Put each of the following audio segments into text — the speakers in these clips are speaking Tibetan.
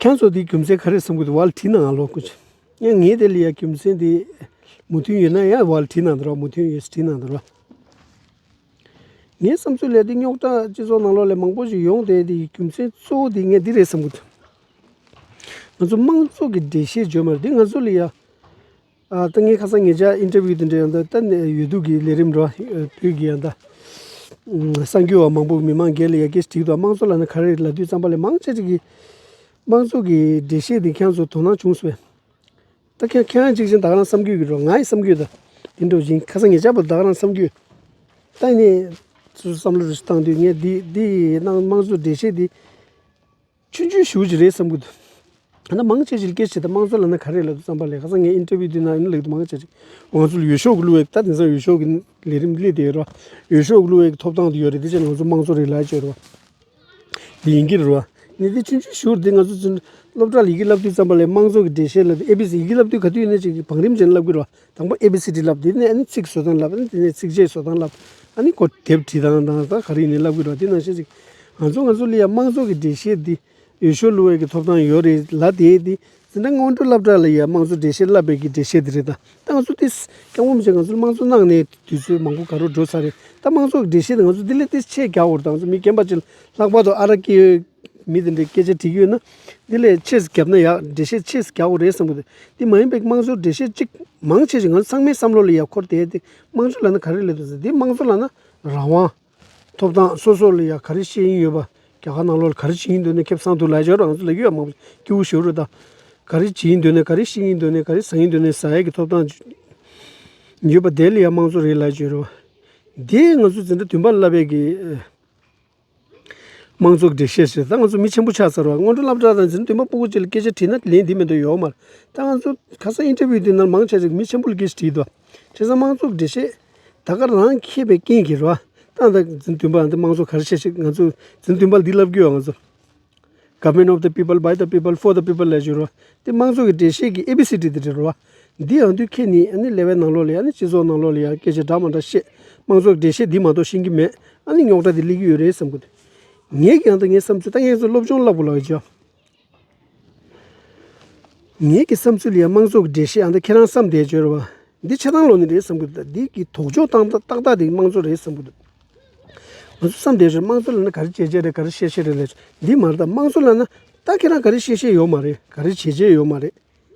ཁྱོད་ཚོ་དེའི་རྒྱུ་མཚན་ག་རེ་བསམ་གི་འདུག་ཝལ་ཁྲི་ནང་ལོག་དགོས་ཀྱི། ངས་དེ་ལ་ཡང་རྒྱུ་མཚན་དེ་མུ་མཐུན་ཡོད་ན་ཡང་ཝལ་ཁྲི་ནང་དུ་རོགས་མུ་མཐུན་ཡོད་ས་ཁྲི་ནང་དུ་རོགས། ངའི་བསམ་ཚུལ་ལས་དེ་རྙོག་དྲ་སྤྱི་ཚོགས་ནང་ལོག་ལས་མང་པོ་ཞིག་ཡོང་དེ་དེའི་རྒྱུ་མཚན་གཙོ་བོ་དེ་ངས་འདི་རེད་བསམ་གི་འདུག། ང་ཚོ་དམངས་གཙོ་གི་འགྲེལ་བཤད་བརྗོད་མ་རེད་དེ་ང་ཚོ་ལ་ཡང། ད་ངས་ཁ་སང་ངེད་ཅག interview དེ་འདྲ་ཡང་ད་གཏན་ནས་ཡོད་དུས་ཀྱི་ལས་རིམ་འགྲོ་དུས་ཀྱི་ཡང་ད། གསར་འགྱུར་བ་མང་པོ་མི་མང་འགས་ལ་ཡར་རྒྱས་ཞིག་དགྲིག་དམངས་གཙོ་ལ་ནི་ག་རེ་ལ་དུས་བརྩམས་པ་ལས་མང་ཆེ་ཆེ་གི་དམངས་གཙོ་གི་འགྲེལ་བཤད་དེ་ཁྱེད་ཚོ་དོ་སྣང་བྱུང་སོས། ད་ཁྱེད་ཁྱེད་རང་གཅིག་བཞིན་ད་ག་རང་བསམ་རྒྱུ་ཡི་རོ་ང་ཡི་བསམ་རྒྱུ་ད་དེ་འདྲ་བཞིན་ཁ་སང་ངེད་ཅག་པོ་ད་ག་རང་བསམ་རྒྱུ་གཏན་ནས་བསམ་བློ་བཏང་དུས་ངས་འདི་འདི་ནང་དམངས་གཙོ་འགྲེལ་བཤད་འདི། ཆུ་འཇོལ་ཞུ་རྒྱུ་རེད་བསམ་གྱི་འདུག་ད་ནི་མང་ཆེ་ཞིག་སྐད་ཆེ་ད་དམངས་གཙོ་ལ་ན་ག་རེ་ལབ་འདུག་བསམ་པ་ལས་ཁ་སང་ངས interview དེ་གནང་ཡོད་ལབ་འདུག་མང་ཆེ་ཞིག་ང་ཚོ་ལ་ཡུལ་ཤོག་གི་གླུ་དབྱངས་ད་དེང་སང་ཡུལ་ཤོག་གི་ལས་རིམ་སླེབས་བསྡད་ཡོད་རེད་བ། ཡུལ་ཤོག་གི་གླུ་དབྱངས་ཀྱི་ཐོབ་ཐང་དུ་ཡོད་རེད་དེ་ཕྱིར་ང་ཚོ་དམངས་གཙོ་རེད་ལ་བཅོས་རེད་བ། དེ་ཡིན་གྱི་རེད་བ། ནས་དེ་ཆུ་འཇོལ་ཞུ་རུ་དེ་ང་ཚོ་ཚུན་སློབ་གྲྭ་ལ་ཡི་གེ་བསླབ་དུས་བསམ་པ་ལས་དམངས་གཙོ་གི་འགྲེལ་བཤད་ལབ་དུས་ཨེ་པི་སི་ཡི་གེ་བསླབ་དུས་ག་དུས་ཡིན་ན་ཅིག་བང་རིམ་ཅན་བསླབ་གི་རེད་བ། དང་པོ ABCD བསླབ་དེ་ནས་ནི་ཚིག་བཟོ་སྟངས་བསླབ་དེ་ནས་ཚིག་བཅད་བཟོ་སྟངས་བསླབ་ཨ་ནི་གོ་དེབ་བྲིས་སྟངས་དང་ད་ག་རིགས་ནས་བསླབ་དགོས་རོགས་དེ་ནང་བཤད་ཅིག་ང་ཚོ་ང་ཚོ་ལི་ཡ་དམངས་གཙོ་གི་འགྲེལ་བཤད་འདི་ཡོད་ཤོག་བསླུ་བས་ཀྱི་ཐོབ་ཐང་ཡོད་རེད་ལ་དེ་དེ་འཛིན་གྲྭ་སྔོན་འགྲོ་བསླབ་གྲྭ་ལི་ཡ་དམངས་གཙོ་འགྲེལ་བཤད་བསླབ་བས་ཀྱི་འགྲེལ་བཤད་དེ་རེད་ད་ད་ང་ཚོ་དེས་ཀྱང་ངོ་མི་ཆེ་ང་ཚོ་ལི་དམངས་གཙོ་གནང་ནས་དུས་ཚོད་མང་པོ་ག་རོགས་འགྲོ་ས་རེད་ད་དམངས་གཙོ་གི་འགྲེལ་བཤད་དེ་ང་ཚོ་དེ་ལས་དེ་ཆེས་རྒྱ་བོར་དང་ང་ཚོ་མི་རྒན་པ་ཅིག་ལྷག་པར་དུ་ཨ་ར་སྐྱེས་ཡོད་མི་དེ་འདྲས་སྐད་ཆ་དྲིས་ཀྱི་ཡོད་ན་འདི་ལས་ཆེས་བརྒྱབ་ན་ཡག་འགྲེལ་བཤད་ཆེས་རྒྱག་འོ་རེད་བསམ་གི་འདུག་འདི་མ་ཡིན་པའི་དམངས་གཙོའི་འགྲེལ་བཤད་ཅིག་མང་ཆེ་ཞིག་ང་ཚང་མའི་བསམ་བློ་ལ་ཡག་འཁོར་དེ་དེ་དམངས་གཙོ་ལ་ན་ག་རེ་ལས་དོན་ཟེར་འདི་དམངས་གཙོ་ལ་ན་རང་དབང། ཐོབ་ཐང་སོ་སོ་ལ་ཡག་ག་རེ་བཤད་ཡིན་ཡོད་པ་རྒྱ་གར་ནང་ལོག་ལ་ག་རེ་བྱེད་ཡིན་འདོད་ན་ཁེབས་སང་འདུག་ལ་བཞག་རོགས་ང་ཚོ་ལ་ཡོད་ཡ་མང་པོ་སྐྱེ་བོ་ཞིག་རོགས་དང། ག་རེ་བྱེད་ཡིན་འདོད་ན་ག་རེ་བཤད་ཡིན་འདོད་ན་ག་རེ་བཟང་ཡིན་འདོད་ན་ཟ་ཡ་གི་ཐོབ་ཐང་ཡོད་པ་དེ་ལ་ཡ་དམངས་གཙོ་རེད་ལ་བརྗོད་རོགས། འདིས་ང་ཚོ་འཛིན་གྲྭ་བདུན་པ་བསླབ་པའི་གི། དམངས་གཙོ་སྒྲིག་བཤད་བྱས་ད་ང་ཚོ་མི་ཆེན་པོ་ཆགས་ཚར་བ་སྔོན་འགྲོ་སླབ་གྲྭ་དང་འཛིན་དོན་པ་སྤོ་སྒུག་བཅས་ལ་སྐད་ཆ་དྲིས་ན་ལན་འདི་མེད་དོ་ཡོད་མ་རེད་ད་ང་ཚོ་ཁ་སང interview དེ་ནང་མང་ཆེ་རིགས་མི་ཆེན་པོ་ལ་སྐད་ཆ་དྲིས་དོ་དེ་སང་དམངས་གཙོ་སྒྲིག་བཤད་ད་ག་རང་མཁས་པའི་རྐྱེན་གྱིས་རེད་བ་ཏང་དང་འཛིན་དོན་པ་དང་དམངས་གཙོ་ག་རེ་བཤད་བཤད་ང་ཚོ་འཛིན་དོན་པ་ལ་འདི་སླབ་དགོས་ཡོད་ང་ཚོ། Government of the people, by the people, for the people ལས་བྱུང་རོ། དེ་དམངས་གཙོ་གི་འགྲེལ་བཤད་ཀྱི་ཨེ་བྷི་སི་ཏི་དེ་འབྲི་རོ། འདི་ཡང་དུས་ཁེ་ནི་ནི་ལེ་ཝའི་ནང་ལོགས་ལས་ནི་སྤྱི་ཚོགས་ནང་ལོགས་ལས་ཡང་སྐད་ཆ་འདྲ་མ་འདྲ་བཤད། དམངས་གཙོ་གི་འགྲེལ་བཤད་འདི་མ་གཏོགས་ཤེས་ཀྱི་མེད། ནི་རྙོག་དྲ་དེ་གླེང་གི་ཡོད་རེད་བསམ་གི་འདུག། ངས་ཀྱང་དང་ངའི་བསམ་ཚུལ་དང་ངས་ཚོ་སློབ་སྦྱོང་བཀླགས་པོ་ལ་བརྗོད། ངས་ཀྱི་བསམ་ཚུལ་ལ་ཡང་དམངས་གཙོ་གི་འགྲེལ་བཤད་ཨང་ད་ཁྱེད་རང་བསམ་དེ་བརྗོད་རོ། འདི་ཆ་ཚང་ལོགས་ནི་རེད་བསམ་གི་འདུག་ད་འདི་གི་དོགས་འཇོག་སྟངས་སྟངས་དག་དེ་དམངས་གཙོ་རེད་བསམ་གི་འདུག། ངོ་ཚ་བསམ་དེ་རེད་དམངས་གཙོ་ལ་ན་ག་རེ་བྱེད་བྱེད་རེད་ག་རེ་བཤད་བཤད་རེད་ལས་འདི་མ་རེད་ད་དམངས་གཙོ་ལ་ན་ད་ཁྱེད་རང་ག་རེ་བཤད་བཤད་ཡོད་མ་རེད་ག་རེ་བྱེད་བྱེད་ཡོད་མ་རེད་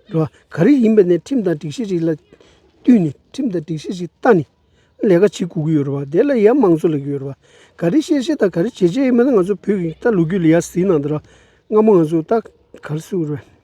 རེད་བ། ག་རེ་ཡིན་པ་ནས་ཁྲིམས་དང་སྒྲིག་གཞི་ཞིག་ལ་བསྟུན་ནས་ཁྲིམས་དང་སྒྲིག་གཞི་ཞིག་ལྟ་ནས་ལས་ཀ་བྱེད་དགོས་ཀྱི་ཡོད་རེད་བ་དེ་ལ་ཡ་དམངས་གཙོ་ལ་གྱི་ཡོད་རེད་བ། ག་རེ་བཤད་བཤད་དང་ག་རེ་བྱེད་བྱེད་ཡིན་པ་ན་ང་ཚོ་བོད་ཀྱི་ད་ལོ་རྒྱུས་ལ་ཡ་ཟིན་ན་འདི་ར་སྔ་མོ་ང་ཚོ་ད་ག་རེ་སུ་རེད་བ།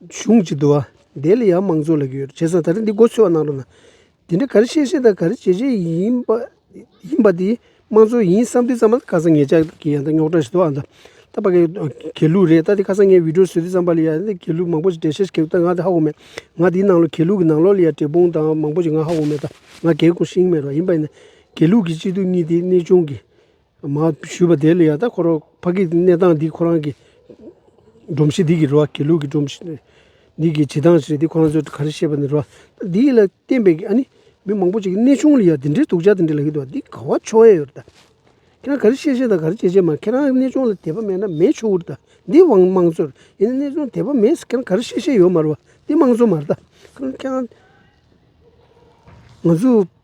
གཞུང་གཅིག་ཏུ་བ་དེ་ལ་ཡང་མང་ཚོགས་ལ་གུས་བརྗེད་བཟང་ད་རེས་འདི་གོ་ཆོད་གནང་རོགས་གནང། དེ་འདྲ་ག་རེ་བཤད་བཤད་དང་ག་རེ་བྱེད་བྱེད་ཡིན་པ་ཡིན་པ་དེ་མང་ཚོགས་ཡིན་བསམ་དུས་ཙམ་མ་གཏོགས་ཁ་སང་ངེད་ཅག་གི་ཡང་དག་རྙོག་དྲ་ཞིག་དོགས་ཨ་མདའ་ད་པ་གལ་ལུགས་རེད་ད་དེ་ཁ་སང་ངས་བིདྲོ་བཟོས་དུས་ཙམ་པ་ལ་ཡང་གལ་ལུགས་མང་པོ་ཞིག་འགྲེལ་བཤད་ཞིག་གལ་ཏེ་ང་དེ་ཧ་གོ་མེད་ང་དེའི་ནང་ལོ་གལ་ལུགས་ཀྱི་ནང་ལོགས་ལ་ཡང་འབྲས་སྤུངས་དང་མང་པོ་ཞིག་ང་ཧ་གོ་མེད་ད་ང་གལ་གོ་ཤེས་ཀྱི་མེད་རོགས་ཡིན་པ་ཡིན་ན་གལ་ལུགས་ཀྱི་སྤྱི་འཐུས་གཉིས་དེ་གནས་ཆུང་གི་མ་ཞུས་པ་དེ་ལ་ཡང་དག་ཁོ་རང་ཕ་གི་གནས་སྟངས་འདི་ཁོ་རང་གི་སྒྲོམ་གཞི་འདི་གི་རེད་བ་དགེ་ལུགས་ཀྱི་སྒྲོམ་གཞི་འདི་འདི་གི་བྱེད་སྟངས་ཞེས་འདི་ཁོ་རང་ཚོས་ག་རེ་བཤད་པ་འདི་རེད་བ། འདིའི་ལ་བརྟེན་པའི་ཨ་ནི་མི་མང་པོ་ཅིག་གི་གནས་ཆུང་ལ་ཡང་འདི་འདྲའི་སྡུག་ཅག་འདི་འདྲ་ལ་གི་འདུག་བ་འདི་ག་བ་ཆོ་ཨེ་ཡོད་རེད་ད། ཁྱེད་རང་ག་རེ་བཤད་བཤད་དང་ག་རེ་བྱེད་བྱེད་མ་ཁྱེད་རང་གནས་ཆུང་ལ་དད་པ་མེད་ན་མེད་ཆུགས་རེད་ད། འདི་དབང་དམངས་གཙོ་རེད་ཡིན་ན་གནས་ཆུང་དད་པ་མེད་ས་ཁྱེད་རང་ག་རེ་བཤད་བཤད་ཡོད་མ་རེད་བ་འདི་དམངས་གཙོ་མ་རེད་ད། ཁྱེད་རང་ང་ཚོས།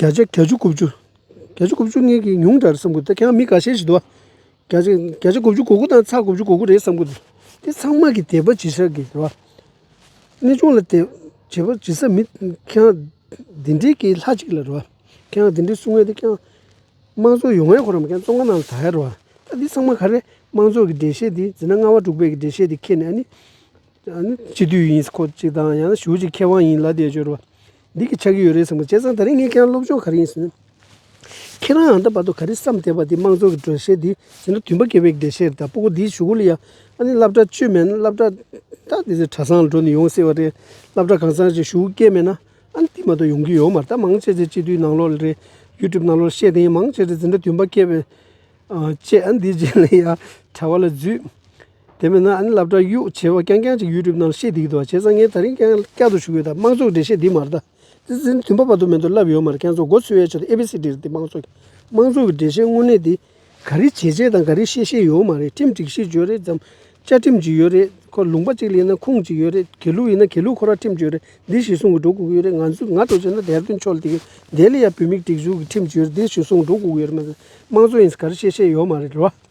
བརྒྱ་ཆ་བརྒྱ་ཅུ་དགུ་བཅུ། བརྒྱ་ཆ་དགུ་བཅུ་གཉིས་ཀྱིས་ཉུང་འདྲ་རེད་བསམ་གི་འདུག་ད་ཁྱེད་རང་མི་ག་ཤེད་ཞིག་འདུག་བརྒྱ་ཆ་བརྒྱ་ཆ་དགུ་བཅུ་གོ་དགུ་དང་ཚ་དགུ་བཅུ་གོ་དགུ་རེད་བསམ་གི་འདུག་དེ་ཚང་མ་གི་དད་པ་བྱེད་ཤག་གི་རེད་བ། གནས་ཆུང་ལ་དད་བྱེད་པ་བྱེད་ས་མི་ཁྱེད་རང་འདི་འདྲའི་གི་ལྷ་གཅིག་ལ་རེད་བ། ཁྱེད་རང་འདི་འདྲའི་གསུང་ངན་དེ་ཁྱེད་རང་དམངས་གཙོ་ཡོང་ངེས་ཁོ་རང་མ་ཁྱེད་རང་བཙོང་ཁང་ནང་ལ་དར་ཡ་རེད་བ། ད་འདི་ཚང་མ་ག་རེ་དམངས་གཙོ་གི་འགྲེལ་བཤད་དེ་འཛི་ན་རྔ་བ་དཀྲུག་པའི་གི་འགྲེལ་བཤད་དེ་ཁྱེད་ནི་ཨ་ནི། སྤྱི་འཐུས་ཡིན་ཁོ་ཅིག་དང་ཡང་ན་ཞུགས་ཀྱི་ཁེ་དབང་ཡིན་ལ་དེ་བཅོས་རོགས་འདེགས་ཀྱི་ཆགས་ཀྱི་ཡོད་རེད་བསམ་གི་བྱས་ཙང་ད་རེས་ངས་ཁྱེད་རང་སློབ་སྦྱོང་ག་རེ་ཡིན་ཟེར་ན། ཁྱེད་རང་ཡང་ད་བར་དུ་ག་རེ་བསམ་བསྡད་པ་དེ་དམངས་གཙོ་གི་དྲོད་གཤེར་དེ་ཟེར་ན་དུས་འབའ་སྐལ་བའི་འགྲེལ་བཤད་དང་པོ་གོ་དེའི་ཞུ་གོ་ལ་ཡང་ཨ་ནི་སླབ་གྲྭ་བཅོས་མེད་ན་སླབ་གྲྭ་ལྟ་དེ་ཟེར་གྲྭ་ཚང་ལ་འགྲོ་ནས་ཡོང་སྲིད་པ་རེད་སླབ་གྲྭ་གང་ཚང་ཞིག་ཞུགས་སྐལ་མེད་ན་ཨ་ནི་དེ་མ་གཏོགས་ཡོང་གི་ཡོད་མ་རེད་ད་མང་ཆེ་ཚེ་སྤྱི་འཐུས་ནང་ལོག་རེད YouTube ནང་ལོག་བཤད་དེ་མང་ཆེ་ཚེ་ཟེར་ན་དུས་འབའ་སྐལ་བའི་བཅས་ཨ་ནི་དེ་རྗེས་ལ་ཡང་གྲྭ་བ་ལ་རྫུས། དེ་མིན་ན་ཨ་ནི་ལབ་དྲ་གཡུག་བྱེད་པ་རྐྱང་རྐྱང་ཅིག་ཡུ་ཏུབ་ནང་བཤད་སྡིག་འདུག་བྱས་ཙང་ངས་ད་རིང་རྐྱང་རྐྱང་དུ་ཞུ་གི་ད་དམངས་གཙོ་གི་འགྲེལ་བཤད་འདི་མར་ད་ཙི་ཙི་ནི་དུས་འབབ་པ་དུ་མེད་དུ་ལབ་ཡོད་མར་རྐྱང་གཙོ་འགོ་ཚུད་བའི་ཆེད་དུ་ཨེ་བྷི་སི་དྲིར་དེ་དམངས་གཙོ་དམངས་གཙོ་གི་འགྲེལ་བཤད་དངོས་གནས་དེ་ག་རེ་བྱེད་བྱེད་དང་ག་རེ་བཤད་བཤད་ཡོད་མ་རེད་ཁྲིམས་སྒྲིག་གཞི་བྱོས་རེད་དམ་བཅའ་ཁྲིམས་ཅིག་ཡོད་རེད་ཁོ་ལུང་པ་གཅིག་ལ་ཡིན་ན་ཁུངས་གཅིག་ཡོད་རེད་དགེ་ལུགས་ཡིན་ན་དགེ་ལུགས་ཁོ་ར་ཁྲིམས་ཅིག་ཡོད་རེད་འདི་ཞིག་གསུང་གི་འགྲོ་དགོས་ཀྱི་ཡོད་རེད་ང་ཚོ་ང་འགྲོ་བྱས་ན་དེར་དོན་ཆོ་ལ་དེ་གི་འདས་ལ་ཡང་བུད་མེད་སྒྲིག་འཛུགས་ཀྱི་ཁྲིམས་ཅིག་ཡོད་རེད་འདི་ཞིག་གསུང་འགྲོ་དགོས་ཀྱི་ཡོད་རེད་མ་ཟད་དམངས་གཙོ་ཡིན་ཟེར་ག་རེ་བཤད་བཤད་ཡོད་མ་རེད་རེད་བ།